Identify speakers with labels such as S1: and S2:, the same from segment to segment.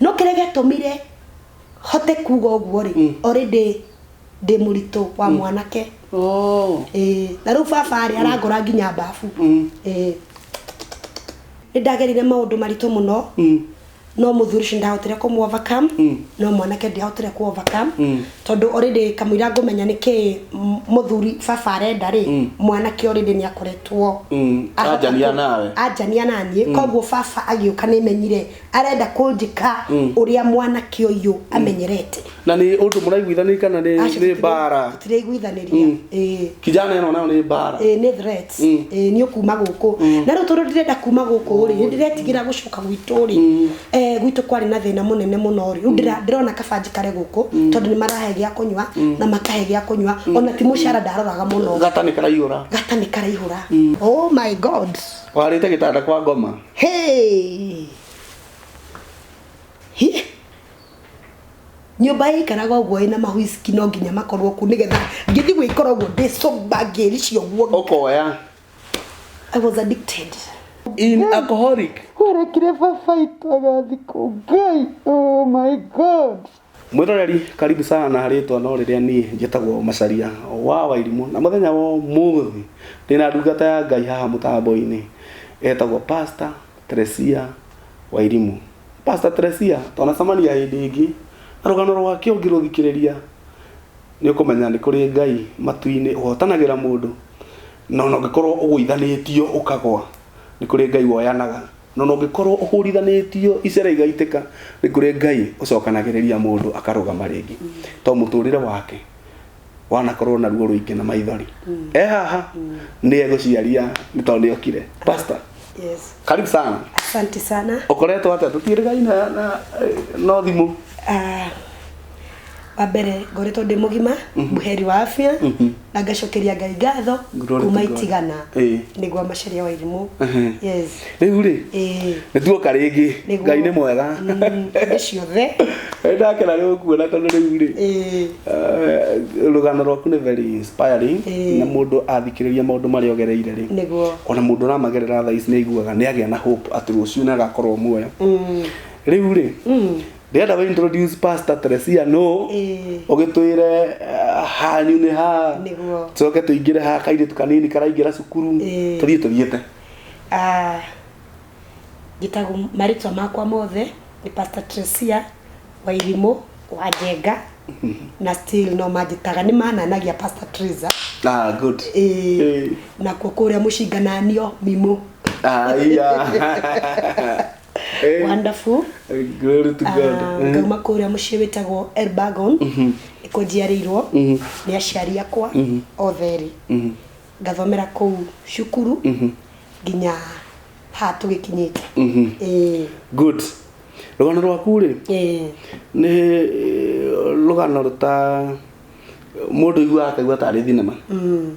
S1: no kĩrĩa gĩatũmire hote kuga ũguo rĩ mm. already ndĩ mũritũ wa mm. mwanake oh. eh, na rĩu baba rĩ mm. arangora nginya mbabu mm. eh, nĩ ndagerire maũndũ maritũ mũno mm. no mũthuri ũcio ndahotire kũ overcome mm. no mwanake ndiahotire kũ overcome mm. tondũ already kamũira ngũmenya nĩ kĩ mũthuri baba arenda rĩ mm. mwanake already nĩ akoretwo mm. anjania nawe anjania na niĩ mm. koguo baba agĩũka nĩ menyire arenda kũnjĩka ũrĩa mwanake ũyũ amenyerete na nä å ndå må
S2: raiguithanä kana nä Aca, nä tutire- mbara tutiraiguithaniria Mm.
S1: Ĩĩ. kijana
S2: ä no nayo nä mbara Ĩĩ, nĩ threats. Mm.
S1: Ĩĩ, nĩ ũkuma gũkũ na rĩu tondũ ndirenda kuma gũkũ rĩ nĩ ndĩretigĩra gũcoka gwitũ rĩ eh, gwitũ kwarĩ na thĩna mũnene mũno rĩ rĩu ndĩra- ndĩrona kabanji kare gũkũ tondũ nĩ marahe gĩa kũnyua na makahe gĩa kũnyua ona ti mũcara ndaroraga mũno gata nä karaiyå ra
S2: gata nĩ karaihũra
S1: oh my god warä te gä tanda
S2: kwa ngoma
S1: Hey! Hi! nyũmba ĩikaraga ũguo ĩna mahuiciki no nginya makorwo ku nĩgetha ngĩthi gwĩkora ũguo ndĩ sober ngĩri cio guo Okoya. I was addicted In
S2: alcoholic. Werekire baba
S1: itagathi kũ ngai oh my god Mwĩroreri
S2: karibu sana rĩtwa no rĩrĩa niĩ njĩtagwo Macharia wa Wairimũ na mũthenya wa ũmũthĩ ndĩna ndungata ya Ngai haha mũtambo-inĩ etagwo Pastor Teresia Wairimũ. Pastor Teresia twanacemania hĩndĩ ĩngĩ na rũgano rwake ũngĩrũthikĩrĩria nĩ ũkũmenya nĩ kũrĩ Ngai matu-inĩ ũhotanagĩra mũndũ na ona ũngĩkorwo ũgũithanĩtio ũkagwa nĩ kũrĩ Ngai woyanaga. Na ona ũngĩkorwo ũhũrithanĩtio icera igaitĩka, nĩ kũrĩ Ngai ũcokanagĩrĩria mũndũ akarũgama rĩngĩ. To mũtũrĩre wake wanakorwo na ruo rũingĩ na maithori. E haha nĩ egũciaria nĩ tondũ nĩ okire. Pastor, Yes. karibu
S1: sana.
S2: Asante sana.
S1: Ũkoretwo atĩa? Tũtiĩrĩgaine
S2: na, na, eh, no thimũ. Ah, wa
S1: mbere ngoretwo ndĩ mũgima mhm. mũheri wa afya mhm. na ngacokeria ngai ngatho kuma itigana nĩguo macaria wa irimũ rĩu rĩ
S2: nĩtuoka rĩngĩ ngai nĩ mwega mm, ndĩ ciothe
S1: ndakena
S2: rĩ ũkuona tondũ rĩu rĩ eh, rũgano rwaku nĩ very inspiring na mũndũ athikĩrĩria maũndũ marĩa ogereire rĩ ona mũndũ
S1: ũramagerera
S2: thaa ici nĩ aiguaga nĩ agĩa na hope atĩ rũciũ nĩ agakorwo muoyo mm. rĩu rĩ mm. ndĩrenda we introduce pastor Teresia no Ĩĩ. ũgĩtwĩre uh, hanyu nĩ ha Nĩguo. coke tũingĩre
S1: ha
S2: kairĩtu kanini karaingĩra cukuru Ĩĩ. tũthiĩ tũthiĩte Ah,
S1: njĩtagwo marĩtwa makwa mothe nĩ pastor tresia wa irimũ wa njenga na still no manjĩtaga nĩ mananagia pastor tresa ah good Ĩĩ.
S2: Ĩĩ.
S1: nakuo kũrĩa mũcingananio mimũ Ah, iya. Eh, wonderful glory
S2: to God. Ah, Eh, ngauma kũrĩa mũciĩ
S1: wĩtagwo elbagon nĩkuo njiarĩirwo nĩ aciari akwa otheri ngathomera kũu cukuru nginya ha tũgĩkinyĩte Ĩĩ,
S2: Good. Rũgano rwaku rĩ ĩĩ. nĩ eh, rũgano rũta mũndũ aiguaga akaigua tarĩ thinema. Mm.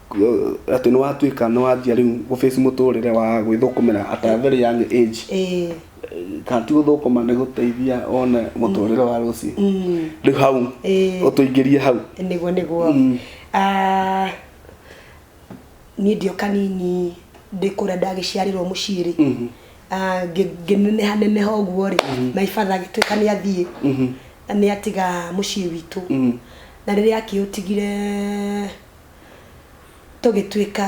S2: atĩ nĩ watuĩka nĩ wanjia rĩu gũface mũtũrĩre wa gwĩthũkũmĩra at a very young age ĩĩ kana ti gũthũkũma nĩ gũteithia one mũtũrĩre wa rũciũ Mm. rĩu hau Ĩĩ. ũtũingĩrie hau niguo niguo Mm.
S1: Ah, niĩ ndio kanini ndĩ kũrĩa ndagĩciarĩrwo mũciĩ rĩ Mhm. Ah, ngĩ- ngĩneneha neneha ũguo rĩ my father agĩtuĩka nĩ athiĩ Mhm. na nĩ atiga mũciĩ witũ Mhm. na rĩrĩa akĩũtigire tũgĩtuĩka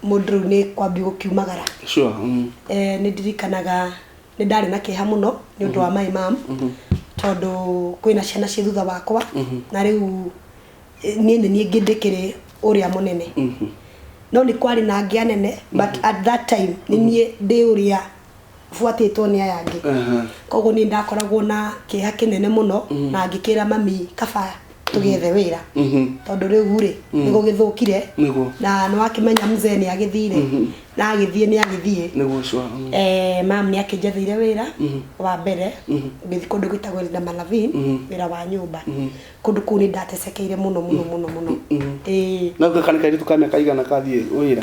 S1: mũndũ rĩu nĩ kwambia gũkiumagara sure
S2: mm. eh, nĩ
S1: ndirikanaga nĩ ndarĩ na kĩeha mũno nĩ ũndũ wa my mam tondũ kwĩna ciana ciĩ thutha wakwa na rĩu eh, niĩ nĩ niĩ ngĩ ndĩkĩrĩ ũrĩa mũnene no nĩ kwarĩ na ngĩa nene but at that time nĩ niĩ ndĩ ũrĩa buatĩtwo nĩ aya angĩ koguo niĩ ndakoragwo na kĩeha kĩnene mũno mm. na ngĩkĩra mami kaba tũgethe wĩra mm-hmm. tondũ rĩu rĩ mm. nĩgå gĩthũkire na nĩ wakĩmenya mzee nĩ agĩthire mm-hmm. na agĩthiĩ nĩ agĩthiĩ mm. eh,
S2: mam nĩ
S1: akĩnjathire wĩra mm-hmm. wa mbere ngĩthi kũndũ gwĩtagwo na malavin wĩra wa nyũmba kũndũ kũu nĩ ndatesekeire mũno mũno mũno mũno
S2: na gũka kanikairĩtu ka mĩaka igana kathiĩ wĩra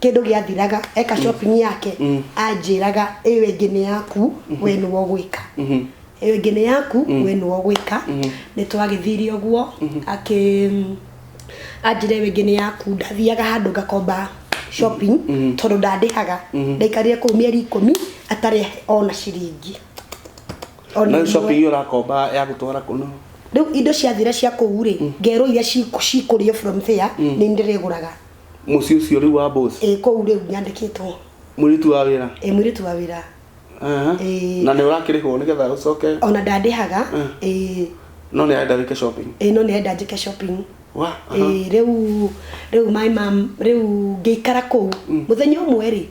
S1: kĩndũ gĩathiraga eka mm. shopping yake mm. anjĩraga ĩyo ĩngĩ nĩ yaku mm-hmm. we nĩwo gwĩka mm-hmm. ĩyo ĩngĩ nĩ yaku mm. we nĩwo gwĩka mm-hmm. nĩ twagĩthire ũguo akĩ anjĩre ĩyo ĩngĩ nĩ yaku ndathiaga handũ ngakomba shopping tondũ ndandĩhaga ndaikarire kũu mĩeri ikũmi atarĩ ona ciringi
S2: na shopping iyo ũrakomba ya gũtwara kũno rĩu indo ciathira
S1: cia kũu rĩ ngerwo iria cikũrĩo from there nĩ ndĩrĩgũraga mũciĩ ũcio
S2: rĩu wa boss ĩ kũu rĩu nyandĩkĩtwo
S1: mũirĩtu wa wĩra
S2: ĩ mwĩrĩtu wa wĩra
S1: Aha. Ĩĩ.
S2: na nĩ ũrakĩrĩhwo nĩgetha ũcoke ona ndandĩhaga
S1: Mm. ĩ
S2: no nĩ arenda wĩke shopping ĩ no nĩenda njĩke
S1: shopping wa aha. ĩ rĩu rĩu maĩ ma rĩu ngĩikara kũu mũthenya ũmwe rĩ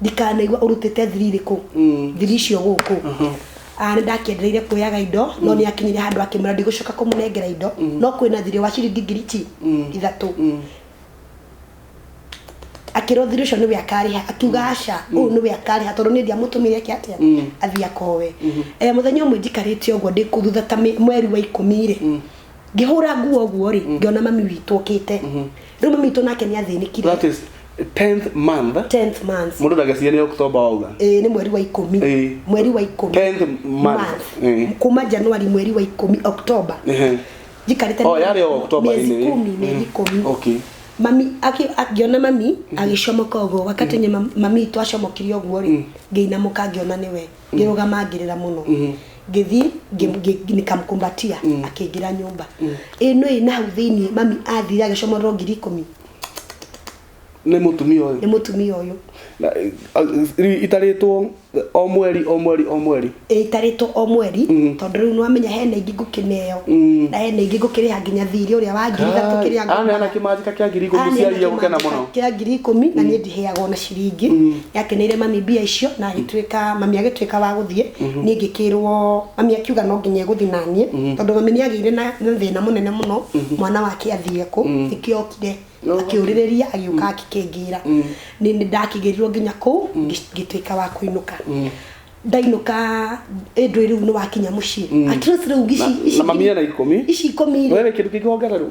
S1: ndikanaigua ũrutĩte thiri irĩkũ mm. thiri icio gũkũ mm-hmm. ah, nĩ ndakĩendereire kuoyaga indo no mm. nĩ akinyire handũ akĩmwĩra ndigũcoka kũmũnengera indo mm. no kwĩna thirĩ wa ciringi ngiriti ithatũ akĩrwo thiri ũcio nĩwe akarĩha akiuga aca ũyũ nĩwe akarĩha tondũ nĩ ndiamũtũmĩre ake atĩa athiĩ akowe eh, mũthenya ũmwe njikarĩte ũguo ndĩ kũthutha ta mweri wa ikũmi rĩ ngĩhũra nguo ũguo rĩ ngĩona mami witũ ũkĩte Rĩu mami witũ nake nĩ athĩnĩkire that is 10th
S2: month 10th month. mũndũ ndageciria nĩ october wauga Eh, nĩ mweri wa ikũmi
S1: Eh. mweri wa ikũmi 10th month. Eh.
S2: kuma januari
S1: mweri wa ikũmi october Ehe. njikarĩte Oh, mĩeri- yarĩ o October
S2: mĩeri ĩmwe. ikũmi mĩeri Mm.
S1: ikũmi Okay. mami aki- akiona mami agĩcomoka ũguo wakati nye mam- mami itũ acomokire ũguo rĩ ngĩinamũka ngĩona nĩwe ngĩrũgama ngĩrĩra mũno ngĩthiĩ ngĩ- ngĩ- nikamkumbatia akĩingĩra nyũmba ĩ nũ ĩ na hau thĩinĩ mami athire agĩcomorerwo ngiri ikũmi
S2: nĩ mũtumia ũyũ nĩ mũtumia ũyũ Na, eh, rĩu itarĩtwo o mweri o mweri o mweri ĩtarĩtwo o mweri tondũ rĩu nĩwamenya hena ingĩ ngũkĩneo na hena ingĩ ngũkĩrĩha nginya thirĩ ũrĩa wa ngiri ithatũ kĩrĩa aneana ngombaga. kĩmanjĩka kĩa ngiri ikũmi Aneana ciaria gũkena mũno kĩmanjĩka kĩa ngiri ikũmi na
S1: niĩ ndiheagwo na ciringi yakeneire mami mbia icio na agĩtuĩka mami agĩtuĩka wa gũthiĩ niĩ ngĩkĩrwo mami akiuga no nginya egũthiĩ na niĩ tondũ mami nĩ agĩire na na thĩna mũnene mũno mwana wake athiĩ kũ nĩkĩo okire akĩũrĩrĩria agĩũka akĩkĩngĩra nĩ nĩ ndakĩgĩrirwo nginya kũu ngĩ- ngĩtuĩka wa kũinũka ndainũka ĩndũ rĩu nĩ wakinya mũciĩ at least rĩu ici- ici na mami ngiri- ena ikũmi
S2: ici ikũmi we wĩ kĩndũ
S1: kĩngĩ wongererwo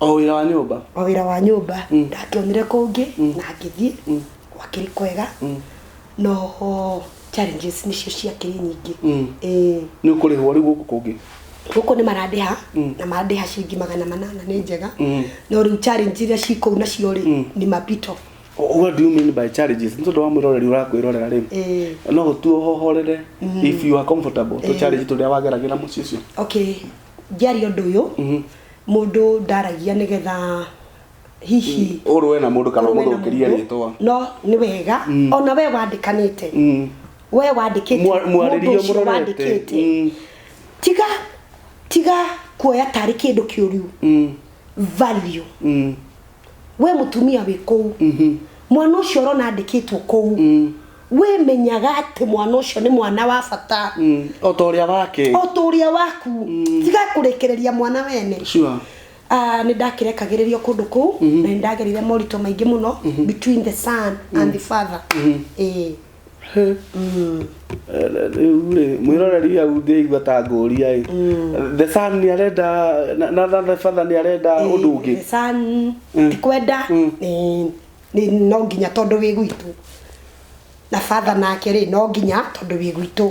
S2: o wĩra wa nyũmba o wĩra wa nyũmba mm. ndangĩonire kũngĩ
S1: mm. na ngĩthiĩ mm. gwakĩrĩ kwega mm. noho challenges nĩcio ciakĩrĩ nyingĩ mm. ĩĩ nĩ ũkũrĩhwo
S2: rĩu gũkũ kũngĩ gũkũ nĩ
S1: marandĩha mm. na marandĩha ciringi magana manana nĩ njega mm. no rĩu challenge iria ci kũu nacio rĩ mm. nĩ mapito
S2: what do you mean by challenges nĩ tondũ wa mwĩroreri ũrakwĩrorera rĩ eh. no ũtue ũhohorere mm. if you are comfortable to eh. challenge tũrĩa wageragĩra mũciĩ ũcio okay
S1: ngĩaria ũndũ ũyũ mũndũ ndaragia nĩgetha hihi ũrũe na mũndũ
S2: kana ũrũe na ũmũthũkĩrie mũndũ, rĩtwa no nĩ wega
S1: ona we wandĩkanĩte we wandĩkĩte Mwa- mũndũ mwarĩrie ũcio mũrorete.
S2: wandĩkĩte Mm. tiga
S1: tiga kuoya tarĩ kĩndũ kĩũru value we mutumia wi kuu mwana ucio urona andikitwo kuu we menyaga ati mwana ucio ni mwana wa bata Mm. o ta ũrĩa
S2: wake o ta uria waku
S1: tiga kurekereria mwana wene sure Ah,
S2: nä
S1: ndakĩrekagĩrĩrio kũndũ kũu na nä ndagerire moritũ maingĩ mũno between the son and the father Ĩĩ.
S2: rĩu rĩ mwĩroreri au ndĩraigua ta ngũria ĩ Mm. the sun nĩ arenda na- na na the father nĩ arenda ũndũ ũngĩ The sun, Mm.
S1: ti kwenda Mm. nĩ- nĩ- no nginya tondũ wĩ gwitũ na batha nake rĩ no nginya tondũ wĩ gwitũ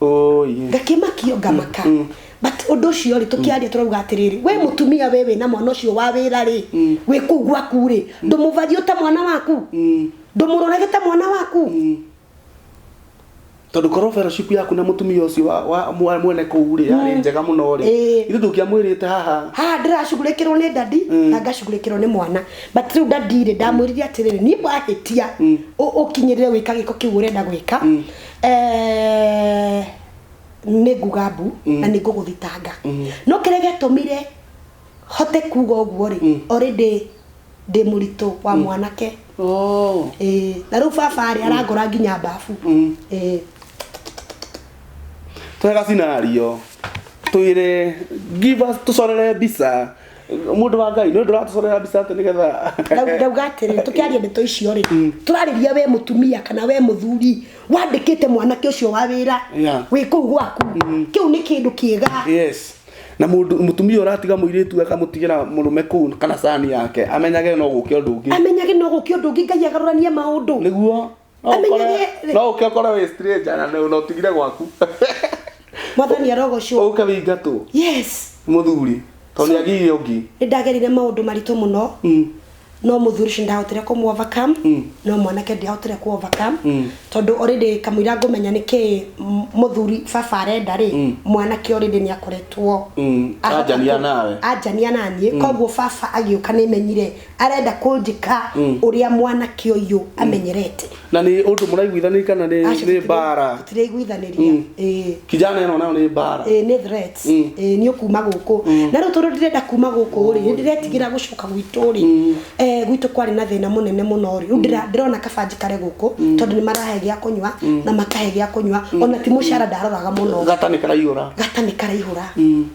S1: Oh, yeah. ngakimakio ngamaka Mm, mm. but undu ucio ri tukiaria turauga atiriri we mutumia we wina mwana ucio wa wira ri Mm. wi kuu gwaku ri ndumuvarie ta mwana waku Mm, ndumurorage ta mwana waku mm.
S2: tondå korwo fellowship yaku na mutumia ucio wa- wa mwa- mwene kuu rä arä Mm. njega må no rä Eh. ithu tå ngä amwä rä te haha haha ndĩracugurĩkĩrwo nĩ ndandi
S1: Mm. na ngacugurĩkĩrwo nĩ mwana but rĩu ndandi-rĩ ndamwĩrire atĩrĩrĩ niĩ wahĩtia Mm. ũ- ũkinyĩrĩre wĩka gĩko kĩu ũrenda gwĩka Mm. Eh, nĩ nguga mbu na nĩ ngũgũthitanga no kĩrĩa gĩatũmire hote kuga ũguo rĩ already ndĩ mũritũ wa mwanake Oh. Ĩĩ, na rĩu baba rĩ arangora nginya mbabu Ĩĩ.
S2: twega scenario twire give us tucorere mbica mundu wa ngai nä å ndå ratåcorera mbica atä nä getha Ndau- ndauga atĩrĩ
S1: tũkĩaria ndeto icio rĩ Mm. tũrarĩria we mũtumia kana we mũthuri wandĩkĩte mwanake ũcio wa wĩra Yeah. wĩ kũu gwaku kĩu nĩ kĩndũ kĩega yes na
S2: mundu mutumia uratiga muiritu akamutigera murume kuu kana sani yake amenyage no guke undu ungi amenyage no gũkĩ ũndũ ũngĩ ngai agarũranie maũndũ niguo No Amenye ũkore- ũrĩa- rĩ. no ũke ũkore wĩ straight na nĩ- na ũtigire gwaku
S1: mwathani arogocwo ũke wĩingatwo
S2: yes
S1: mũthuri
S2: tondũ nĩ agiire ũngĩ nĩ ndagerire maũndũ
S1: maritũ mũno Mm. no mũthuri ũcio ndahotire kũmũ overcome Mm. no mwanake ndiahotire kũ overcome Mm. tondũ already kamũira ngũmenya nĩ kĩ m- mũthuri baba arenda rĩ Mm. mwanake already nĩ akoretwo Mm, ahota anjania kũ- nawe. anjania naniĩ koguo baba agĩũka nĩ menyire arenda kũnjĩka ũrĩa mwanake ũyũ amenyerete na nĩ ũndũ
S2: mũraiguithanĩria kana nĩ Aca, nĩ tutire- mbara tutiraiguithanĩria Mm.
S1: Ĩĩ. kijana
S2: ĩno nayo nĩ mbara Ĩĩ, nĩ threats Mm.
S1: Ĩĩ, nĩ ũkuma gũkũ na rĩu tondũ ndĩrenda kuma gũkũ rĩ nĩ ndĩretigĩra gũcoka gwitũ rĩ eh, gwitũ kwarĩ na thĩna mũnene mũno rĩ rĩu ndĩra- ndĩrona kabanji kare gũkũ tondũ nĩ marahe gĩa kũnyua na makahe gĩa kũnyua ona ti mũcara ndaroraga mũno gata nĩ karaiyũra gata nĩ karaihũra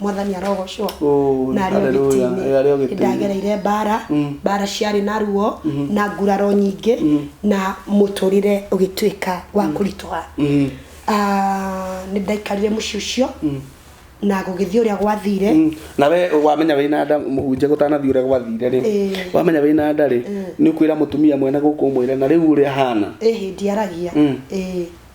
S1: mwathani arogocwo Oh, na arĩ hallelujah. ũgiti-inĩ Eh, arĩ ũgiti-inĩ. Nĩ ndagereire mbara Mm. mbara ciarĩ na ruo na nguraro nyingĩ na mũtũrĩre ũgĩtuĩka wa kũritũha Mm. Ah, nĩ ndaikarire mũciĩ ũcio na gũgĩthiĩ ũrĩa gwathire Mm. na we wamenya
S2: wĩ na nda mũhunjia gũtanathiĩ ũrĩa gwathire rĩ Ĩĩ. wamenya wĩ na nda rĩ nĩ ũkwĩra mũtumia mwene gũkũ ũmwĩre na rĩu ũrĩa hana ĩhĩ ndiaragia Mm.
S1: Ĩĩ.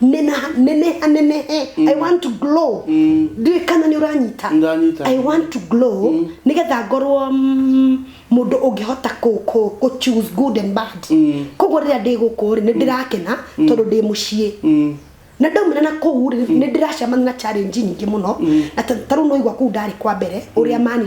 S1: neneha neneha nenehe i want to glow ndiũĩ kana nĩ ũranyita Ndanyita. i want to glow nĩgetha ngorwo mm, mũndũ ũngĩhota kũ- kũ- kũ choose good and bad koguo rĩrĩa ndĩ gũkũ rĩ nĩ ndĩrakena tondũ ndĩ mũciĩ na ndaumĩra na kũu rĩ nĩ ndĩracemania na challenge nyingĩ mũno na ta ta rĩu nĩwaigua kũu ndarĩ kwa mbere ũrĩa mani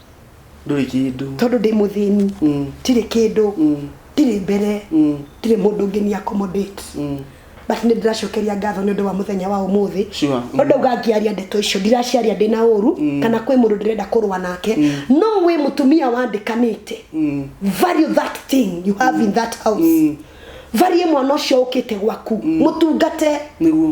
S2: ndũrĩ kĩndũ tondũ ndĩ mũthĩni
S1: ndirĩ kĩndũ ndirĩ mbere ndirĩ mũndũ ũngĩ ni accommodate but nĩ ndĩracokeria ngatho nĩ ũndũ wa mũthenya wa ũmũthĩ Sure. no ndauga ngĩaria ndeto icio ndiraciaria ndĩ na ũru kana kwĩ mũndũ ndĩrenda kũrũa nake no wĩ mũtumia wandĩkanĩte value that thing you have in that house varie mwana ũcio ũkĩte gwaku mũtungate nĩguo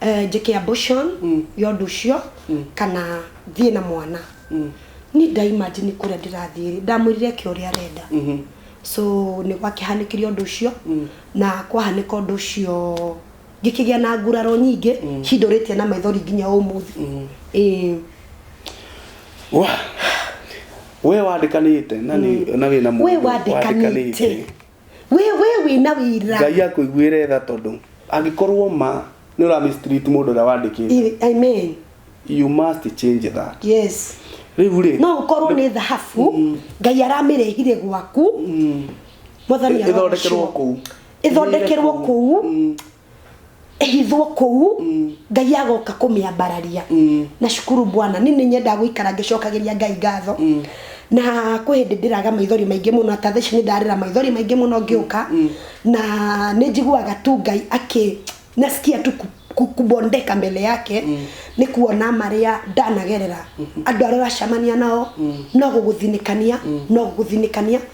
S1: eh, njĩke abortion ya ũndũ ũcio kana thiĩ na mwana ni ndaimagine kũrĩa ndĩrathiĩ rĩ ndamwĩrire eke ũrĩa arenda so nĩ gwakĩhanĩkire ũndũ ũcio na kwahanĩka ũndũ ũcio ngĩkĩgĩa na nguraro nyingĩ cindũrĩtie na maithori nginya ũmũthĩ Ĩĩ. Wa-
S2: we wandĩkanĩte na nĩ- na wĩna we mũndũ wandĩkanĩte
S1: we we wĩna wĩra ngai akũiguĩre tha
S2: tondũ angĩkorwo ma nĩ ũra mistreat mũndũ ũrĩa wandĩkĩte I- amen
S1: you must
S2: change that yes rĩu
S1: rĩ no
S2: ũkorwo nĩ
S1: thahabu ngai aramĩrehire gwaku mwathani ĩthondekerwo arogoco kũu ĩthondekerwo kũu Mm. ĩhithwo kũu mm. ngai agoka kũmĩambararia mm. na cukuru bwana ni nĩ nyendaga gũikara ngĩcokagĩria ngai ngatho mm. na kwĩ hĩndĩ ndĩraga maithori maingĩ mũno ta thaici nĩ ndarĩra maithori maingĩ mũno ngĩũka na nĩ njiguaga tu ngai akĩ nasikia tu kubondeka mbele yake mm. nä kuona marä a ndanagerera mm-hmm. andå arä a wacamania nao mm. no gå gå thinä kania mm. no gå gå thinä kania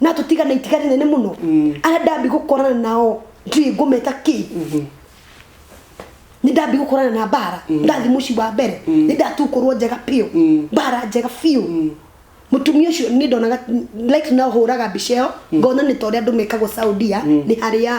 S1: natũtigana itiga rĩnene mũno arĩa ndambi gũkorana nao ndiũĩ ngũmeta kĩ nĩ ndambi gũkorana na mbara ndathi mũci wa mbere nĩ ndatukũrwo njega biũ mbara njega biũ mũtumia ũcio nĩ ndonaga like no hũraga mbica ĩyo ngona nĩ ta ũrĩa andũ mekagwo saudia nĩ harĩa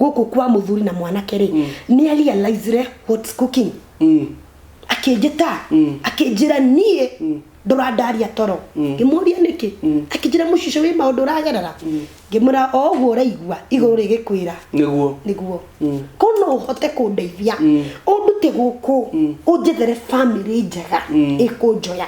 S1: gũkũ kwa mũthuri na mwanake rĩ mm. nĩ realizire what's cooking mm. akĩnjĩta mm. akĩnjĩra niĩ mm. ndũrandaria toro mm. ngĩmũria nĩkĩ mm. akĩnjĩra mũcico wĩ maũndũ ũragerera mm. ngĩmwĩra o ũguo ũraigua igũrũ mm. rĩgĩkwĩra nĩguo nĩguo mm. ko no ũhote kũndeithia mm. ũndute gũkũ mm. ũnjethere famĩlĩ njega mm. ĩkũnjoya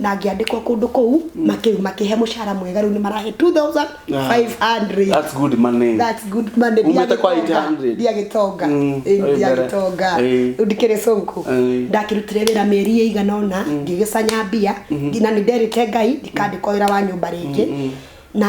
S1: na ngĩandĩkwo kũndũ kũu makĩu makĩhe mũcara mwega rĩu nĩ marahe 2500 That's good
S2: money. That's good money. Umĩte kwa 800.
S1: Ndiagĩtonga. Mm, Eh, oĩ Ndiagĩtonga. mbere. Eh. Rĩu ndikĩrĩ cũku. Eh. Ndakĩrutire wĩra mĩeri ĩigana ũna ngĩgĩcanya mbia nginya nĩ nderĩte Ngai ndikandĩkwo wĩra wa nyũmba rĩngĩ na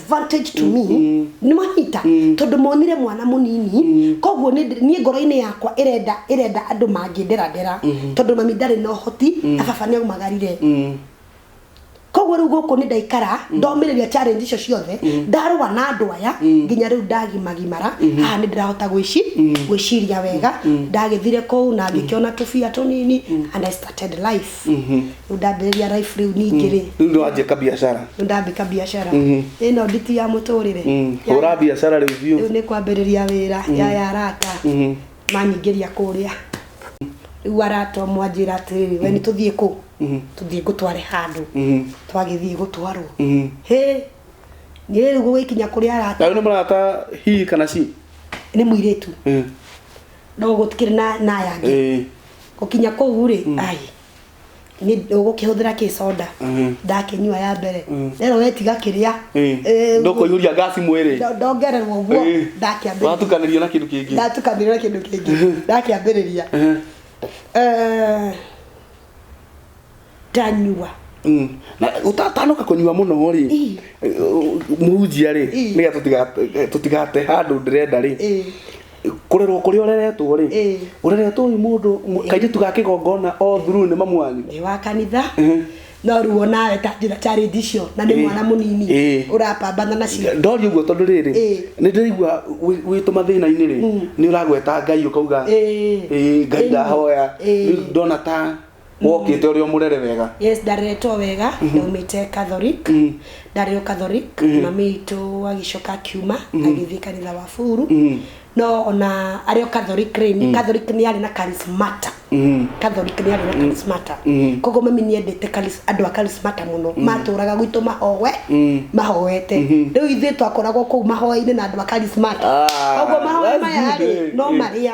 S1: advantage to me nĩ manyita tondũ monire mwana mũnini koguo nĩ ndĩ- niĩ ngoro-inĩ yakwa ĩrenda ĩrenda andũ mangĩnderadera tondũ mami ndarĩ na ũhoti na baba nĩ aumagarire koguo rĩu gũkũ nĩ ndaikara ndomĩrĩria challenge icio ciothe ndarũa na andũ aya nginya rĩu ndagimagimara haha nĩ ndĩrahota gwĩci gwĩciria wega ndagĩthire kũu na ngĩkĩona tũbia tũnini and I started life rĩu ndambĩrĩria life rĩu ningĩ rĩ rĩu ndio wanjia kabiacara
S2: rĩu ndambĩka biacara
S1: Mhm. ĩno nditi ya mũtũrĩre Mm, Ya- hũra biacara rĩu
S2: biũ rĩu nĩ kwambĩrĩria
S1: wĩra ya ya arata Mhm. manyingĩria kũrĩa rĩu arata mwanjĩra atĩrĩrĩ we nĩ tũthiĩ kũ Mhm. tũthiĩ ngũtware handũ Mhm. twagĩthiĩ gũtwarwo Mhm. hĩ niĩ rĩu gũgĩkinya kũrĩa arata na nĩ mũrata
S2: hi kana ci nĩ mũirĩtu
S1: Eh, no gũtikĩrĩ na na yangĩ eh, gũkinya kũu rĩ ai ũgũkĩhũthĩra kĩ soda Mhm. ndakĩnyua ya mbere Mm. rero wetiga kĩrĩa Eh, Eh, ndũkũihũria
S2: ngaci mwĩrĩ ndo- ndongererwo guo Eh,
S1: ndakĩambĩrĩria watukanĩrio na kĩndũ kĩngĩ
S2: ndatukanĩrwo na kĩndũ kĩngĩ ndakĩambĩrĩria
S1: Eh, Eh, ndanyua mm. Na
S2: ũtatanoka kũnyua mũno rĩ Ii. eh, mũhunjia rĩ Ii. nĩgetha tũtiga- tũtigate handũ ndĩrenda rĩ Eh, kũrerwo kũrĩa ũreretwo rĩ Ĩĩ. ũreretwo ũyũ mũndũ mũ- kairĩtu ga kĩgongona o thuru nĩ mamu wanyu ndĩ wa kanitha
S1: Ehe. no rĩu onawe ta njĩra challenge icio na nĩ Ĩĩ. mwana mũnini Ĩĩ. ũrapambana nacio ndoria ũguo tondũ rĩrĩ
S2: Ĩĩ. nĩ ndĩraigua wĩ- wĩtũ mathĩna-inĩ rĩ nĩ ũragweta ngai ũkauga Ĩĩ. "Ĩĩ, ngai Ĩĩ. ndahoya Ĩĩ. rĩu ndona ta wokite uri omurere wega yes ndareretwo wega
S1: ndaumite catholic ndarĩ o catholic mami witũ agĩcoka akiuma agĩthiĩ kanitha wa buru no ona arĩ o catholic rĩ nĩ catholic nĩ arĩ na charismata catholic nĩ arĩ na charismata koguo mami nĩ endete charis- andũ a charismata mũno matũraga gwitũ mahowe mahoete rĩu ithuĩ twakoragwo kũu mahoya-inĩ na andũ a charismata Ah, koguo mahoya that's maya good, rĩ eh, no eh. marĩa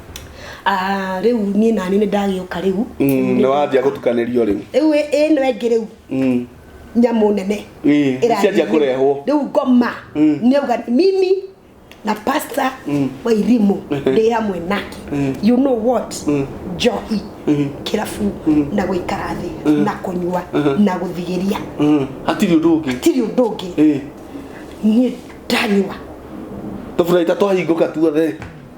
S1: Ah, rĩu niĩ nani nĩ ndagĩũka rĩu Mm, nĩ wanjia
S2: gũtukanĩrio rĩu rĩu ĩ- ĩno ĩngĩ
S1: rĩu Mm. nyamũ nene Ĩĩ, ĩrathiĩ cianjia rĩu.
S2: kũrehwo. rĩu ngoma
S1: Mm. nĩauga mimi na pasta Mm. wa irimũ ndĩ hamwe nake Mm. you know what Mm. njohi Mm. kĩrabu Mm. na gũikara thĩ Mm. na kũnyua Mhm. na gũthigĩria Mm. hatirĩ ũndũ
S2: ũngĩ tirĩ ũndũ ũngĩ
S1: Ĩĩ. niĩ ndanyua
S2: tũburaita twahingũka tuothe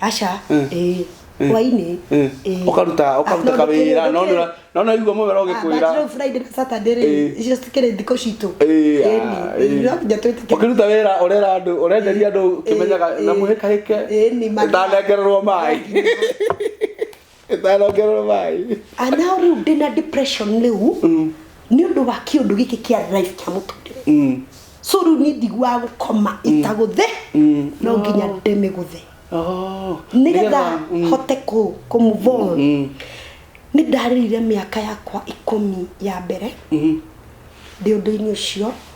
S2: aca
S1: Mm. ĩĩ hwainĩ ĩĩ. Ũkaruta-
S2: Ah, ũkaruta no, kawĩra, ndũkĩrĩ- no ndũkĩrĩ. nĩũra- no naigua mũmero Ah, ũgĩkwĩra. but rĩu Friday na Saturday
S1: rĩ, Ĩĩ. icio citikĩrĩ thikũ citũ Ĩĩ, Ĩĩ, ah, ĩĩ, ĩĩ. no nginya twĩtĩkĩre.
S2: ũkĩruta wĩra ũrera andũ ũrenderia andũ ũkĩmenyaga Ĩĩ, na ĩĩ. mũhĩkahĩke Ĩĩ, nĩ ma- ndanengererwo maĩ ĩtanongererwo maĩ and now rĩu ndĩna depression rĩu nĩ ũndũ wa kĩũndũ gĩkĩ kĩa life kĩa mũtũrĩre so rĩu niĩ ndiguaga gũkoma itagũthĩ no nginya ndĩmĩgũthe nĩgetha hote kũ kũ move on nĩ ndarĩrire mĩaka yakwa ikũmi ya mbere ndĩ ũndũ-inĩ ũcio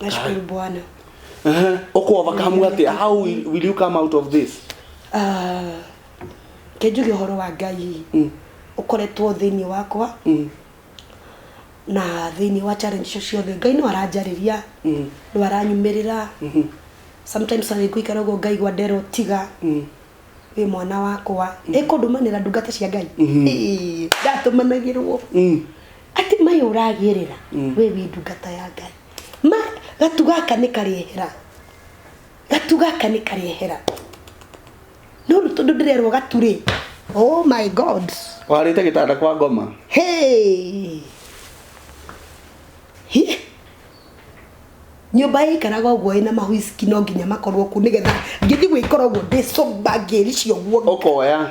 S1: nashukuru bwana Ehe, uko
S2: overcome ati how will will you come out of this Ah,
S1: kenjuge ũhoro wa ngai Mm. ũkoretwo thĩinĩ wakwa Mm. na thĩinĩ wa challenge icio ciothe ngai no aranjarĩria Mm. no aranyumĩrĩra Mhm. sometimes arĩ ngũikara ũguo ngai gwa ndero tiga Mm. wĩ mwana wakwa ĩkũndũmanĩra ndungata cia ngai Mhm. Ĩĩ, ndatũmanagĩrwo Mm. Ati mai uragirira mm. we wi ndungata ya ngai ma gatu gaka ni karihera gatu gaka ni karihera no ru tundu ndirerwo gatu ri oh my god warite gitanda kwa
S2: ngoma hey Hi.
S1: nyumba ikaraga uguo ina mahuiski no nginya makorwo ku nigetha ngithi gwikora uguo ndi somba ngiricio guo ukoya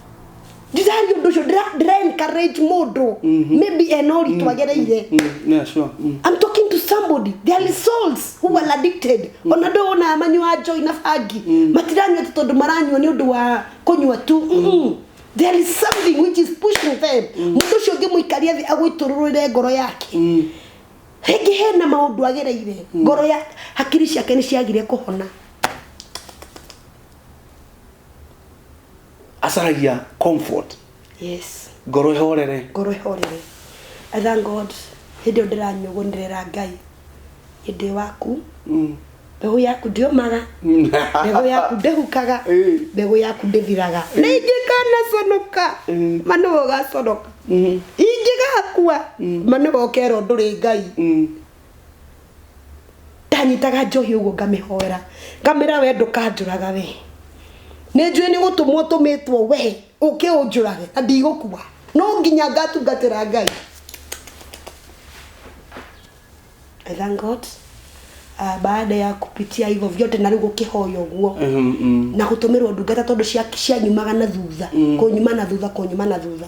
S1: ndirari ũndũ ũcio ndĩra- ndĩra encourage mũndũ maybe ena ũritũ agereire Mm, yeah, sure.
S2: Mm. I'm talking to
S1: somebody. There are souls who are addicted. Ona ndo ona manyua joy na bangi. Matiranyua tu tondu maranyua ni undu wa kunyua tu. Mm-mm. There is something which is pushing them. Mũndũ ũcio ũngĩmũikaria thĩ agwĩtũrũrĩre ngoro yake. Mm. Rĩngĩ hena maũndũ agereire. Ngoro ya hakiri ciake nĩ ciagire kũhona.
S2: acaragia comfort yes
S1: ngoro ĩhorere
S2: ngoro ĩhorere
S1: i thank god hĩndĩ ĩyo ndĩranyũgũnĩrĩra ngai hĩndĩ waku mm. mbegũ yaku ndĩũmaga mbegũ yaku ndĩhukaga mbegũ yaku ndĩthiraga na ingĩkanaconoka manũ ũgaconoka ingĩgakua manũ ũkerwo ndũrĩ ngai ndanyitaga njohi ũguo ngamĩhoera ngamĩra we ndũkanjũraga we nĩ njũĩ nĩ gũtũmwo tũmĩtwo we ũkĩ ũnjũrage na ndigũkua no nginya ngatungatĩra ngai I thank God uh, baada ya kupitia hivyo vyote na rĩu gũkĩhoya ũguo Mhm, mm. na gũtũmĩrwo ndungata tondũ cia- cianyumaga na thutha kũnyuma na thutha kũnyuma na thutha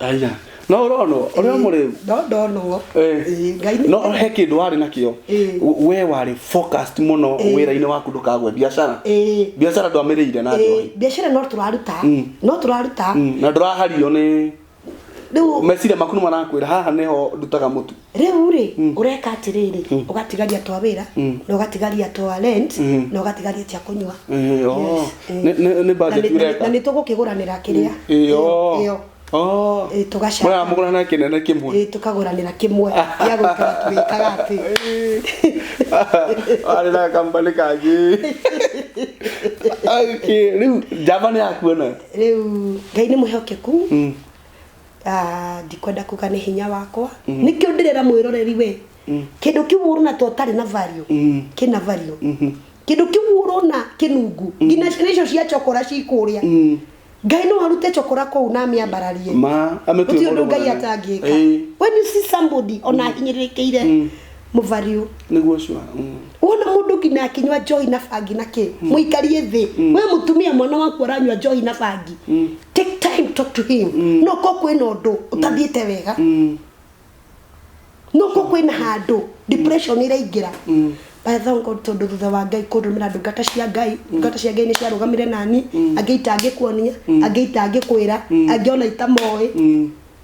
S1: Aya.
S2: No ũronwo ũrĩa mũrĩu. no ndonwo
S1: Eh. Ĩĩ, ngai
S2: nĩ- No he kĩndũ warĩ nakĩo. Ĩĩ. We warĩ focused mũno Ĩĩ. wĩra-inĩ waku ndũkagwe biacara. Ĩĩ. Biacara ndwamĩrĩire na Ĩĩ, njohi. biacara no tũraruta
S1: Mm. no tũraruta Mm, Na ndũrahario
S2: nĩ rĩu meciria maku nĩ marakwĩra haha nĩho ndutaga mũtu. rĩu rĩ
S1: ũreka atĩrĩrĩ ũgatigaria twa wĩra na ũgatigaria twa rent na ũgatigaria cia kũnyua Eh, oh.
S2: Yes, eh. Nĩ- nĩ- nĩ Na budget nĩ- ũreka? na nĩ tũgũkĩgũranĩra kĩrĩa
S1: Ĩyo. Ĩyo, ĩyo. Oh. Ĩĩ, tũgacaka. Mũraya mũgũra na kĩnene
S2: kĩmwe Ĩĩ, tũkagũranĩra kĩmwe
S1: gĩa gũikara tũgĩkaga atĩ
S2: arĩ na kambani kangĩ Okay, rĩu njamba nĩ yakuona rĩu ngai
S1: nĩ mwĩhokeku Ah, ndikwenda kuga nĩ hinya wakwa nĩkĩo ndĩrera mwĩroreri we kĩndũ kĩu ũrona to ũtarĩ na value kĩna value kĩndũ kĩu ũrona kĩnungu nginya ciana icio cia cokora cikũrĩa ngai no arute cokora kũu na amĩambararie ma amĩtue gũtirĩ ũndũ mũndũ ngai mũnene. atangĩka Ĩĩ. when you see somebody ona ahinyĩrĩrĩkĩire mũbariũ nĩguo ũcio mm.
S2: wona mũndũ
S1: nginya akinywa njohi na bangi na kĩ mm. mũikarie thĩ mm. we mũtumia mwana waku aranywa njohi na bangi take time talk to him no ko kwĩna ũndũ ũtathiĩte wega no ko kwĩna handũ depression ĩraingĩra by the way tondu thutha wa ngai kundumira ndungata cia ngai ndungata cia ngai ni ciarugamire nani angĩ itangĩkuonia angĩ itangĩkwĩra angĩ ona itamoi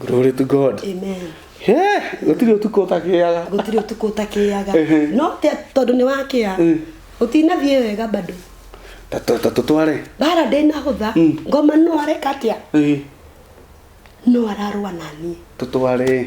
S1: glory to
S2: god amen
S1: Eh, gũtirĩ
S2: ũtukũ ũtakĩaga gũtirĩ ũtukũ ũtakĩaga Ehe. no
S1: te- tondũ nĩ wakĩa Mm. ũtinathiĩ wega bado Ta- ta- ta- tũtware
S2: bara
S1: ndĩnahũtha Mm. ngoma no areka atĩa Eh, no ararũa naniĩ tũtware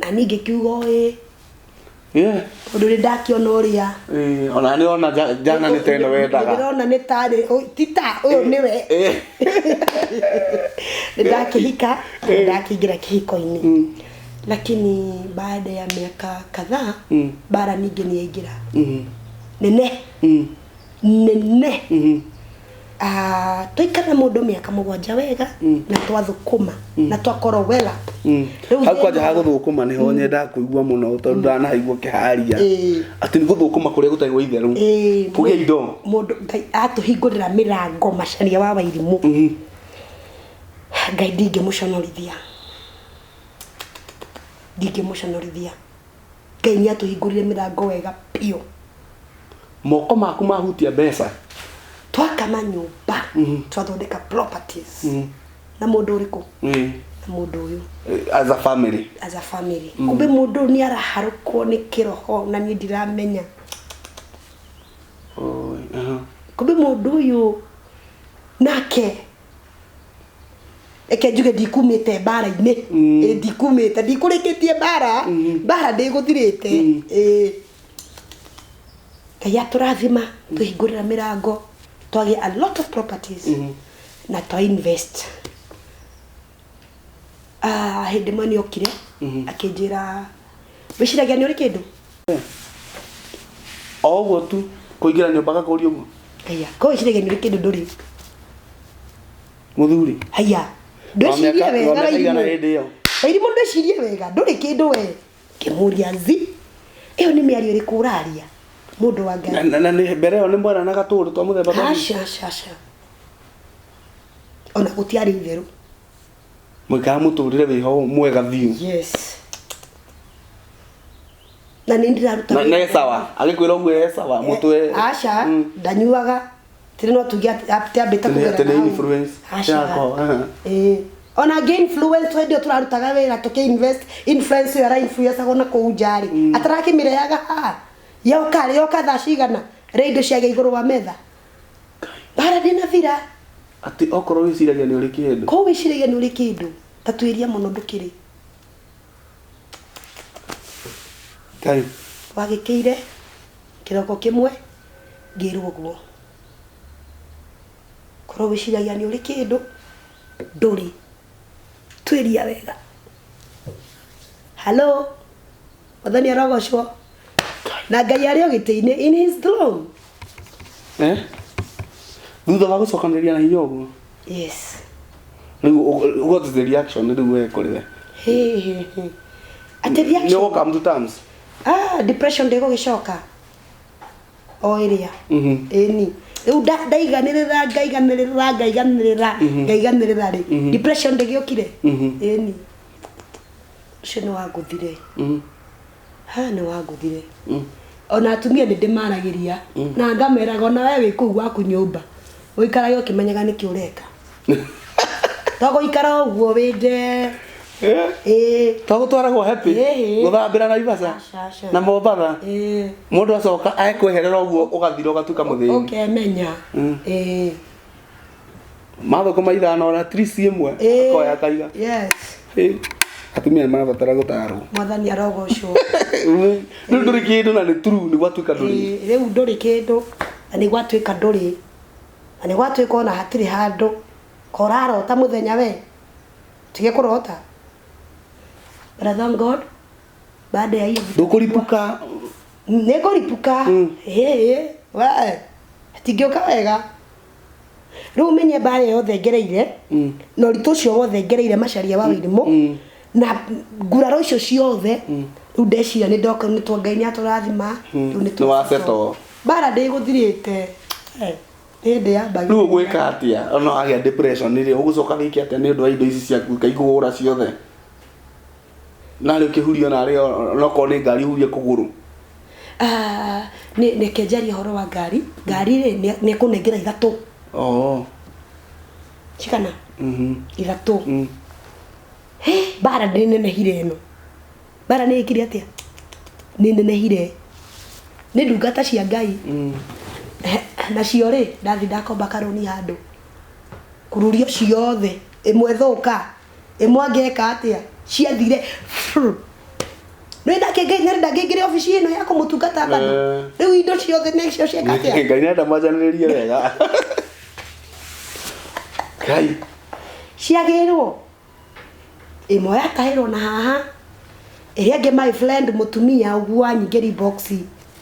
S1: na niĩ ngĩkiuga ũĩ Yeah. tondũ nĩ ndakĩona ũrĩa Eh, ona nĩ ona
S2: ja- jana nĩ teno wendaga ndĩrona nĩ tarĩ
S1: ũy- ti ta ũyũ nĩwe Eh. nĩ ndakĩhika nĩ ndakĩingĩra kĩhiko-inĩ lakini baada ya miaka kadhaa Mm. bara ningĩ nĩyaingĩra Mhm. nene Mhm. nene Mhm. Ah, twaikara mũndũ mĩaka mũgwanja wega mm. na twathũkũma mm. na twakorwo wela mm. hau kwanja ha
S2: gũthũkũma nĩho nyendaga kũigua mũno tondũ ndanaigua kĩharia atĩ nĩ gũthũkũma kũrĩa gũtarĩ gwa itherũ kũgĩa indo mũndũ ngai
S1: atũhingũrĩra mĩrango macaria wa wairimũ ngai ndingĩmũconorithia ndingĩmũconorithia Ngai nĩ atũhingũrire mĩrango wega biũ.
S2: Moko maku mahutia mbeca. Twaka
S1: manyũmba, mm-hmm. twathondeka properties. Mm. Na mũndũ ũrĩkũ? Mm. Na mũndũ ũyũ. Eh, as a family.
S2: As a family. Mm. Kumbe
S1: mũndũ nĩ araharũkwo nĩ kĩroho na niĩ ndiramenya. Oh, uh-huh. Kumbe mũndũ ũyũ nake reke njuge ndikumĩte mbara-inĩ Mm. Ĩ, ndikumĩte ndikũrĩkĩtie mbara Mm. mbara ndĩgũthirĩte Mm. Ĩ. ngai atũrathima tũhingũrĩra mĩrango twagĩa a lot of properties Mhm. na twa invest Ah, hĩndĩ ĩmwe nĩ okire Mhm. akĩnjĩra wĩciragia nĩ ũrĩ kĩndũ
S2: o ũguo tu kũingĩra nyũmba gakũria ũguo haya ko wĩciragia
S1: nĩ ũrĩ kĩndũ ndũrĩ
S2: mũthuri haya Wa
S1: ndwĩcirie mĩaka- wa wega mĩaka igana wairimũ hĩndĩ ĩyo wairimũ ndwĩcirie wega ndũrĩ kĩndũ we kĩmũria nzi ĩyo nĩ mĩario ĩrĩkũ ũraria mũndũ wa Na- ngai na- na nĩ- mbere ĩyo nĩ
S2: mweranaga tũũndũ twa mũthemba twa- Aca, aca, aca.
S1: ona gũtiarĩ itherũ
S2: mũikaga mũtũrĩre wĩ ho mwega biũ yes
S1: na nĩ ndĩraruta na nĩ sawa agĩkwĩra
S2: ũguo e sawa mũtwe aca Mm.
S1: ndanyuaga tĩrĩ no tuge atĩ atĩ ambĩte Tene- kũgera tene nawe. influence Aca.
S2: yako, aha.
S1: Ĩĩ. ona ngĩ influence hĩndĩ ĩyo tũrarutaga wĩra tũkĩ invest influence ĩyo arainfluencagwo na kũu njarĩ atarakĩmĩreaga haha yoka rĩ yoka thaa cigana rĩa indo ciagĩa igũrũ wa metha bara ndĩnathira atĩ okorwo
S2: wĩciragia nĩ ũrĩ kĩndũ ko wĩciragia nĩ ũrĩ
S1: kĩndũ ta twĩria mũno ndũkĩrĩ
S2: ngai wagĩkĩire
S1: kĩroko kĩmwe ngĩrwo ũguo korwo wĩciragia nĩ ũrĩ kĩndũ ndũrĩ twĩria wega halo mwathani arogocwo na ngai arĩ o gĩtĩ-inĩ in his throne eh
S2: thutha wa gucokanĩrĩria na hinya ũguo yes rĩu what is the reaction rĩu we kũrĩ we Hey, hey,
S1: hey. Ati nĩ reaction. ũgũka mtu terms
S2: Ah, depression
S1: ndĩgũgĩcoka o ĩrĩa Mhm. ĩni rĩu nda- ndaiganĩrĩra ngaiganĩrĩra ngaiganĩrĩra ngaiganĩrĩra rĩ depression ndĩgĩũkire Mhm. ĩni ũcio nĩ wangũthire mm. ha nĩ wangũthire mm. ona atumia nĩ ndĩmaragĩria mm. na ngameraga ona we wĩ kũu gwaku nyũmba ũikarage ũkĩmenyaga nĩkĩ ũreka to gũikara ũguo wĩ nde eh? to
S2: gũtwaragwo happy gũthambĩra na ibasa na mombatha mũndũ acoka aekwĩherera ũguo ũgathira ũgatuĩka mũthĩni ũkemenya mm. mathũkũma ithano ona trisi ĩmwe Eh, akoya akaiga yes Eh, atumia nĩ marabatara gũtarwo mwathani arogocwo rĩu ndũrĩ kĩndũ na nĩ turu nĩ gwatuĩka ndũrĩ Ĩĩ, rĩu ndũrĩ kĩndũ
S1: na nĩ gwatuĩka ndũrĩ na nĩ gwatuĩka ona hatirĩ handũ korarota mũthenya we tige kũrota But I thank God baada ya hiyo vitu ndũkũripuka
S2: nĩngũripuka
S1: Mm. ĩĩ we tingĩũka wega rĩu menye mbara ĩyo yothe ngereire mm. na ũritũ ũcio wothe ngereire macaria wa wĩrimũ mm. mm. na nguraro icio ciothe mm. rĩu ndeciria nĩ ndoka nĩ twa ngai nĩ atũrathima mm. rĩu nĩ twaceto mbara
S2: ndĩgũthirĩte
S1: eh, hĩndĩ ya mbagi rĩu ũgwĩka atĩa
S2: ona wagĩa depression rĩ ũgũcoka wĩke atĩa nĩ ũndũ wa indo ici ciaku kaigũgũra ciothe narä å kä hurio narä nokorwo nä ngari hurie kå gå rå Ah, nĩ
S1: reke njarie ũhoro wa ngari ngari rĩ nĩ- nĩ kũnengera ithatũ oh. cigana mm ithatũ -hmm. Hĩ, mbara nĩ nenehire ĩno mbara nĩ ĩkire atĩa nĩ nenehire nĩ ndungata cia ngai mm. Eh, nacio rĩ ndathi ndakomba karũni handũ kururio ciothe ĩmwe thũka ĩmwe angĩka atĩa ciathire Frrr. nĩrenda kĩngĩ nĩrenda ngĩingĩre obici ĩno ya kũmũtungata bado Eh. rĩu indo ciothe nĩcio cieka atĩa ngai nenda majanĩrĩrie
S2: wega kai ciagĩrwo
S1: ĩmwe yatahĩrwo na haha ĩrĩa ĩngĩ my friend mũtumia ũguo anyingĩri boxi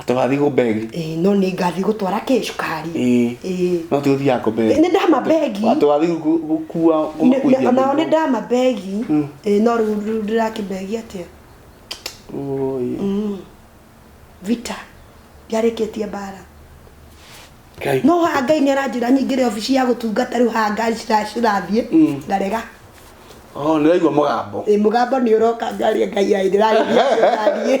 S1: atĩ wathiĩ
S2: gũmbegi Ĩĩ, no nĩ ngathiĩ gũtwara
S1: kĩ cukari Ĩĩ. Ĩĩ. no
S2: tiga ũthiaga gũmbegi Nĩ ndama mbegi
S1: atĩ wathiĩ gu-
S2: gũkua Nĩ- kũmakuithia nĩ- onao nĩ mĩrigo. ndama
S1: mbegi Ĩĩ, no rĩu rĩu ndĩrakĩmbegi atĩa Ũũi. vita ndiarĩkĩtie mbara Ngai. no haha ngai nĩ aranjĩra nyingĩre obici ya gũtungata rĩu haha ngari cira- cirathiĩ ngarega Oh,
S2: nĩraigua mũgambo Ĩĩ, mũgambo nĩ ũroka
S1: ngaria ngai ai ndĩrarĩria ngari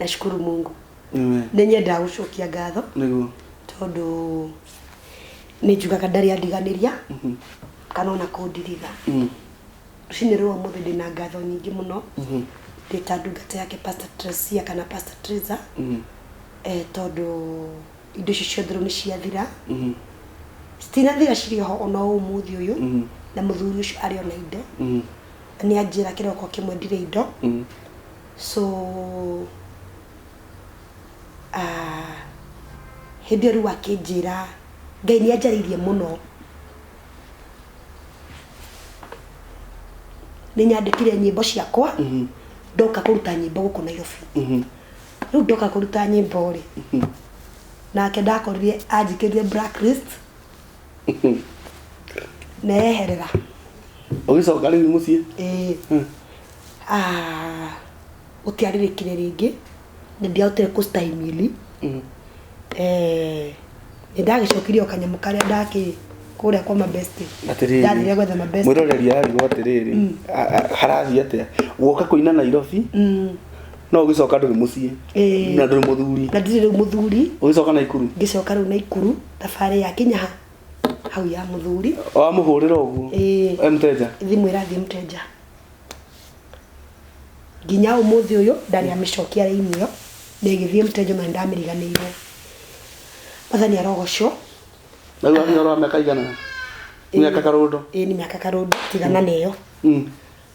S1: nashukuru mungu Amen. nĩ nyendaga gũcokia ngatho Nĩguo. tondũ nĩ njugaga ndarĩ andiganĩria Mhm. kana ona kũndiritha Mm. rũcinĩ rwa mũthĩ ndĩ na ngatho nyingĩ mũno Mhm. ndĩ ta ndungata yake pastor Tresia kana pastor Tresa Mhm. eh, tondũ indo icio ciothe rĩu nĩ ciathira Mhm. citinathira cirĩ ho ona o ũmũthĩ ũyũ Mhm. na mũthuri ũcio arĩ ona indo Mhm. nĩ anjĩra kĩroko kĩmwe ndirĩ indo Mhm. So ah, hĩndĩ ĩyo rĩu akĩnjĩra ngai nĩ anjarĩirie mũno nĩ nyandĩkire nyĩmbo ciakwa mhm. ndoka kũruta nyĩmbo gũkũ nairobi mhm. rĩu ndoka kũruta nyĩmbo rĩ mhm. nake ndakorire anjĩkĩrire blacklist neherera ũgĩcoka
S2: rĩu mũciĩ ĩĩ Hmm. Ah,
S1: gũtiarĩrĩkire rĩngĩ na ndiahotire kũstahimili Mm. Eh, nĩ ndagĩcokirie o kanyamũ karĩa ndakĩ kũrĩa kwa mabesti Atĩrĩrĩ. ndarire gwetha mabesti mwĩroreri arirwo atĩrĩrĩ
S2: a- a- harathiĩ atĩa guoka kũina nairobi Mm, no ũgĩcoka ndũrĩ mũciĩ Eh. na ndũrĩ mũthuri na ndirĩ rĩu mũthuri
S1: ũgĩcoka na ikuru
S2: ngĩcoka rĩu na ikuru
S1: thabarĩ ya kinyaha hau ya mũthuri wamũhũrĩra
S2: ũguo Eh. e mteja thimũ ĩrathiĩ mũtenja
S1: nginya ũmũthĩ ũyũ ndarĩ amĩcokia raini ĩyo na ĩgĩthiĩ mũtenja na nĩndamĩriganĩirwo mathani arogocwo na rĩu
S2: wakinya ũrora mĩaka igana mĩaka karũndo ĩĩ nĩ mĩaka karũndũ
S1: tigana na ĩyo Mm.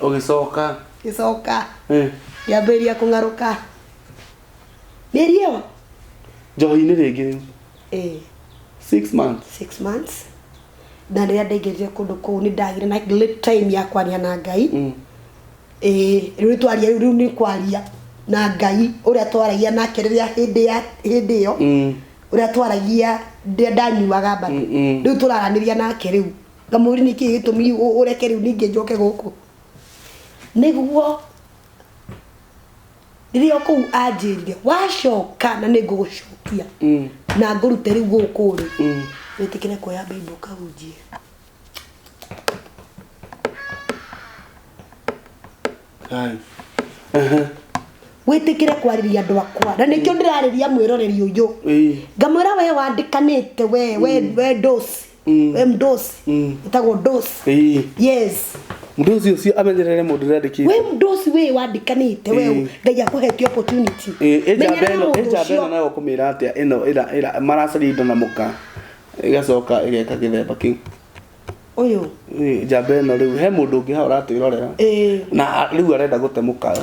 S1: ũgĩcoka
S2: gĩcoka eh,
S1: ngĩambĩrĩria kũng'arũka mĩriũ njohi-inĩ
S2: rĩngĩ rĩu eh, six months six months
S1: na rĩrĩa ndaingĩrire kũndũ kũu nĩ ndagire na late time ya kwaria na ngai Mm. Eh, rĩu twaria rĩu nĩ kwaria na ngai ũrĩa twaragia nake rĩrĩa hĩndĩ ya hĩndĩ ĩyo Mm. ũrĩa twaragia rĩrĩa ndanyuaga mbata Mm, mm. rĩu tũraranĩria nake rĩu Kamũri nĩ kĩĩ gĩtũmi ũreke rĩu ningĩ njoke gũkũ? Nĩguo rĩrĩa o kũu anjĩrire wacoka na nĩ ngũgũcokia mm. na ngũrute rĩu gũkũ rĩ mm. wĩtĩkĩre kuoya baibũ kahunjie wĩtĩkĩre kwarĩria andå akwa na nĩkĩo ndĩrarĩria mwĩroreri ũyũ ngamwĩra we wandĩkanĩte we we mm. we ndosi we mdosi utagwo ndosi Ĩĩ. yes mũndũ ũcio ũcio
S2: amenyerere mũndũ ũrĩa andĩkĩte we mdosi we
S1: wandikanite we Ĩĩ. ngai akuhetie opportunity Ĩĩ, ĩnjamba Menyerera ĩno mũndũ ĩnjamba
S2: ũcio. ĩno nayo kũmĩra atĩa ĩno ĩra ĩra maracaria indo na mũka ĩgacoka ĩgeka gĩthemba kĩu uyu
S1: Ĩĩ, njamba
S2: ĩno rĩu he mũndũ ũngĩ hau ũratwĩrorera Ĩĩ. na a- rĩu arenda gũte mũkayo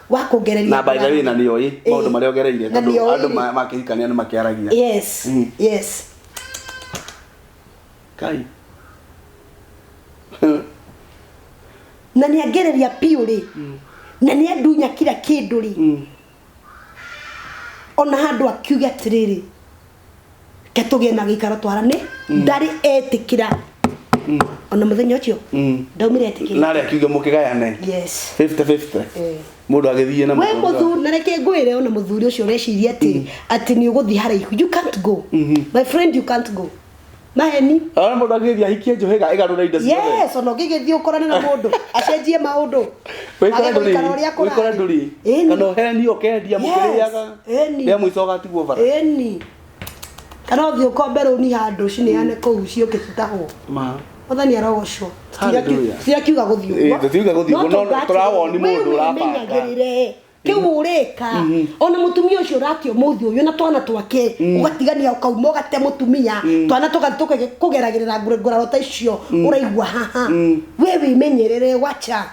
S1: wa kuongereria na by the way na nĩoĩ
S2: Eh. maũndũ marĩa ogereire Na tondũ nĩoĩ andũ rĩ. ma- makĩhikania nĩ makĩaragia yes Mm. yes kai
S1: na nä angereria biå rä na nä andunya kira kä ndå rä Mm. ona handå akiuga atä rä rä ke tũgĩe na gĩikaro twarane mm. ndarĩ etĩkĩra mm. ona mũthenya ũcio mm. ndaumire etĩkĩra narĩ akiuge mũkĩgayane
S2: yes 50 50
S1: eh.
S2: mundu agithie na we muthu na reke
S1: ngwire ona muthuri ucio ureciria ati ati ni uguthie haraihu you can't go mm-hmm. my friend you can't go maheni Ara mũndũ agĩthiĩ
S2: ahikie njũhĩga ĩgarũre indo ciothe. yes ona ũngĩgĩthiĩ
S1: ũkorane na mũndũ acenjie maũndũ Wĩkore Age gũikara ũrĩa ndũrĩ,
S2: wĩkore kũrathiĩ. ndũrĩ. Ĩni. Kana ũhenio ũkendia mũkĩrĩaga. Yes, ĩni. Rĩa mũico ũgatigwo bara. ĩni
S1: kana ũthiĩ ũkombe rũni handũ cineane kũu ciũke citahwo Ma. mwathani arogocwo Hallelujah. tirakiuga gũthiĩ Ĩĩ, tũtiuga gũthiĩ ũguo, no
S2: tũrawoni mũndũ ũrabanga. ũguomenyagĩrĩre kiu
S1: urika ona mutumia ucio uratia muthi uyu na twana twake ugatigania ukauma ugate mutumia twana tuka kugeragirira nguraro ta icio uraigua haha we wimenyerere wacha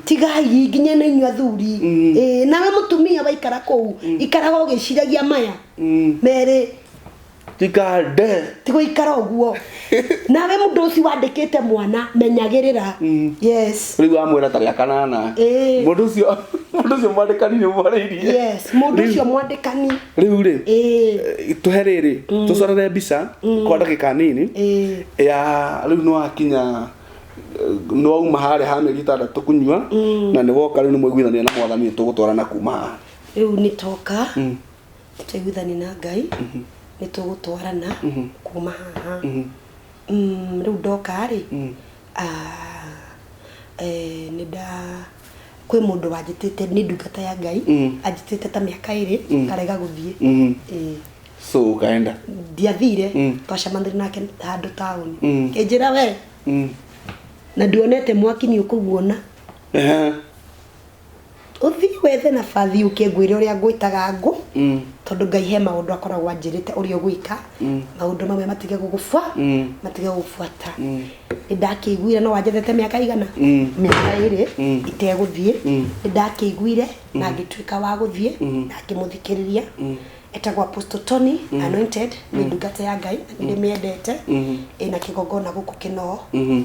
S1: tigai nginya na inyu athuri Eh, nawe mutumia waikara kuu ikaraga ugiciragia maya meri
S2: tikande tigũikara
S1: ũguo nawe mũndũ ũcio wandĩkĩte mwana menyagĩrĩra mm. yes rĩu wamwĩra ta rĩa
S2: kanana eh. mũndũ ũcio mũndũ ũcio mwandĩkani nĩ ũmwarĩirie yes mũndũ ũcio
S1: mwandĩkani rĩu rĩ eh.
S2: eh, tũhe rĩrĩ mm. tũcorere mbica mm. kwa ndagĩka nini ya rĩu nĩ wakinya nĩ wauma harĩa ha mĩeri ĩtandatũ kũnyua na nĩ woka rĩu nĩ mwaiguithania na mwathani nĩ tũgũtwarana kuma haha rĩu nĩ toka
S1: tũiguithani na ngai nĩ tũgũtwarana kuma haha Mm, rĩu ndoka rĩ ah, eh, nĩ nda kwĩ mũndũ wanjĩtĩte nĩ ndungata ya ngai anjĩtĩte ta mĩaka ĩrĩ ngarega gũthiĩ Ĩĩ so
S2: ũkaenda ndiathire
S1: twacemanire nake handå taåni kä njä ra we na nduonete mwaki nä å kå guona Ehe. ũthiĩ wethe nabathi ũke ngwĩre ũrĩa ngwĩtaga ngũ mm. tondũ ngai he maũndũ akoragwo anjĩrĩte ũrĩa ũgwĩka mm. maũndũ mamwe matige gũgũbwa mm. matige gũgũbuata nĩ ndakĩiguire no wanjethete mĩaka igana mĩaka ĩrĩ itegũthiĩ nĩ ndakĩiguire na ngĩtuĩka wa gũthiĩ na ngĩmũthikĩrĩria etagwo apostle tony mm. anointed nä mm. ndungata ya ngai na nä ndä mä endete ä na kä gongona gå kå kä noo mm-hmm.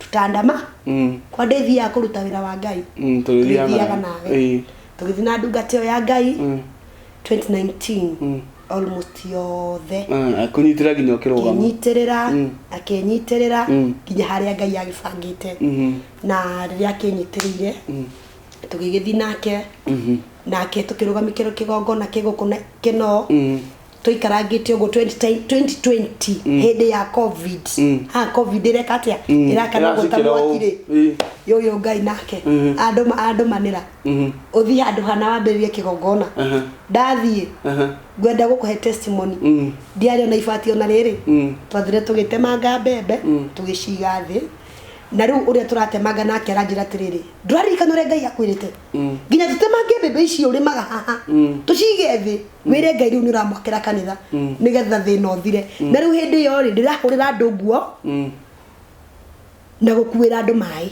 S1: tũtandama Mm. kwa ndĩthiaga kũruta wĩra wa ngai Mm, tũgĩthiaga tũgĩthiaga na- nawe Ĩĩ. tũgĩthiĩ na ndungata ĩyo ya ngai Mm. 2019 Mm. almost yothe Mm, akũnyitĩra nginya
S2: ũkĩrũgama akĩnyitĩrĩra Mm. akĩnyitĩrĩra
S1: Mm. nginya harĩa ngai agĩbangĩte Mhm. na rĩrĩa akĩnyitĩrĩire Mm. tũgĩgĩthiĩ nake Mhm. nake tũkĩrũgamĩkĩrwo kĩgongona kĩgũkũ na kĩno Mm. twaikarangĩte ũguo 20 2020 hĩndĩ ya covid ha covid ĩreka atĩa ĩrakana ũguo ta Ĩracukĩra ũũ. mwakirĩ Ĩ. yoyo ngai nake andũ ma- andũ manĩra ũthiĩ handũ hana wambĩrĩrie kĩgongona Aha. ndathiĩ Aha. ngwenda gũkũhe testimony Mm. ndiarĩ ona ibati ona rĩrĩ Mm. twathire tũgĩtemanga mbembe tũgĩciga thĩ na rĩu ũrĩa tũratemanga nake aranjĩra atĩrĩrĩ ndũraririkana ũrĩa ngai akwĩrĩte nginya tũtemange mbembe ici ũrĩmaga haha tũcige thĩ wĩre ngai rĩu nĩ ũramwakĩra kanitha nĩgetha thĩna ũthire na rĩu hĩndĩ ĩyo rĩ ndĩrahũrĩra andũ nguo Mm. na gũkuĩra andũ maĩ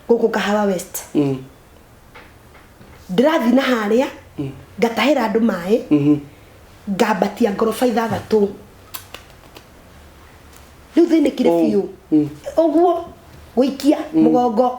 S1: gũkũ kahawa west Mm. ndĩrathiĩ na harĩa ngatahĩra andũ maĩ Mhm. ngambatia ngoroba ithathatũ rĩu thĩnĩkire Oh. biũ Mm. ũguo gũikia mũgongo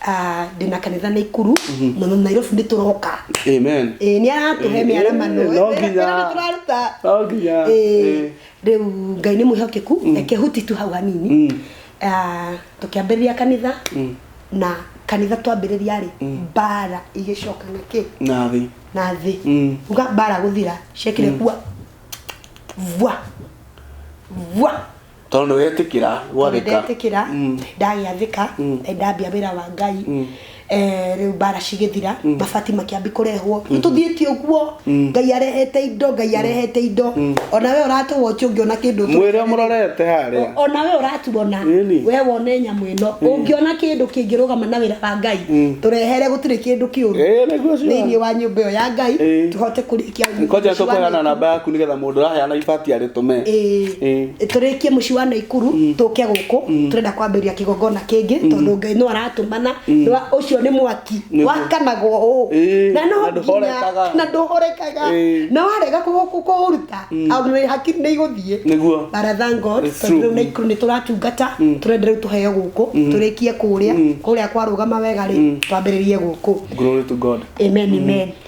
S2: Ah,
S1: ndĩ na kanitha na ikuru na na nairobi nĩ tũroka amen Ĩĩ, nĩ
S2: aratũhe Ĩĩ,
S1: mĩaramano no Wĩra- nginya. wĩra nĩ tũraruta no nginya Ĩĩ, ĩĩ. rĩu ngai nĩ mwĩhokeku reke huti tu hau hanini Mm. Ah, tũkĩambĩrĩria kanitha Mm. na kanitha twambĩrĩria rĩ mbara igĩcoka na kĩ na thĩ na thĩ Mm. uga mbara gũthira ciekire kwa vwa vwa tondå nä
S2: wetĩkĩra gwathĩka ndetĩkĩra Mm. ndagĩathĩka
S1: Mm. eh, ndambia wĩra wa ngai Mm. eh, rĩu mbara cigĩthira mabati makĩambi kũrehwo nĩ tũthiĩtie ũguo Mm. ngai arehete indo ngai arehete indo Mm. ona we ũratũwa ũtio ũngĩona kĩndũ mwä rä a må rorete
S2: harä a O- ona we ũratuona
S1: Really? we wone nyamũ ĩno ũngĩona kĩndå kĩngĩrũgama na wĩra wa ngai Mm. tũrehere gũtirĩ kĩndå kĩũru thä inä wa nyå mba ä yo ya ngai Eh. tå hote kå Koja tũkũheana
S2: namba yaku nĩgetha mũndũ ũraheana ibati arĩtũme. Ĩĩ. tũrĩkie
S1: mũciĩ wa naikuru tũke gũkũ tũrenda kwambĩrĩria kĩgongona kĩngĩ tondũ ngai no aratũmana Nĩ wa- ũcio nĩ mwaki Nĩ- wakanagwo ũũ Ĩĩ, na no na ndũhorekaga. nginya- na ndũhorekaga Ĩĩ. na warega kũ- kũ- kũũruta au nĩ hakiri nĩ igũthiĩ Nĩguo. But I thank
S2: God, It's tondũ
S1: true. rĩu naikuru nĩ tũratungata tũrenda rĩu tũheo gũkũ tũrĩkie kũrĩa kũrĩa kwarũgama wega rĩ twambĩrĩrie gũkũ Glory to God.
S2: amen amen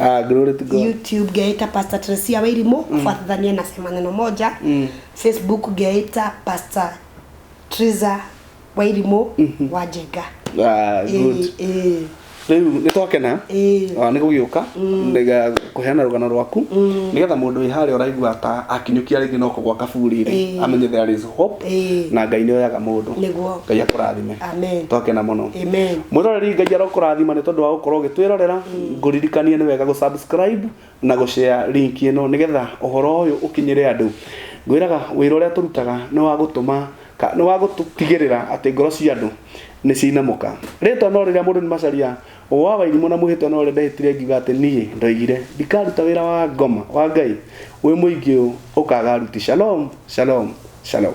S1: Ah, glory to God.
S2: youtube ngeita pastor
S1: tresia wairimu kufuatithania na sema neno moja facebook ngeita pastor triza wairimu wa njenga Ah, good.
S2: Eh, eh, Rĩu nĩ twakena eh. Ah, nĩ gũgĩũka ndega kũheana rũgano rwaku nĩgetha mũndũ wĩ harĩa ũraigua ta akinyũkia rĩngĩ no kũgwa kaburi rĩ Ĩĩ. amenye there is hope Ĩĩ. na ngai nĩ oyaga mũndũ Nĩguo. ngai akũrathime Amen. twakena mũno
S1: amen
S2: mwĩroreri
S1: ngai arokũrathima
S2: nĩ tondũ wa gũkorwo ũgĩtwĩrorera ngũririkanie nĩ wega gũsubscribe na gũshare link ĩno nĩgetha ũhoro ũyũ ũkinyĩre andũ ngwĩraga wĩra ũrĩa tũrutaga nĩ wa gũtũma ka- nĩ wa gũtigĩrĩra atĩ ngoro cia andũ nĩ ciinamũka rĩtwa no rĩrĩa mũndũ nĩ macaria wa wairimũ na mwĩhĩtwa no rĩrĩa ndehĩtire ngiuga atĩ niĩ ndoigire ndikaruta wĩra wa ngoma wa ngai wĩ mũingĩ ũũ ũkaga aruti shalom shalom shalom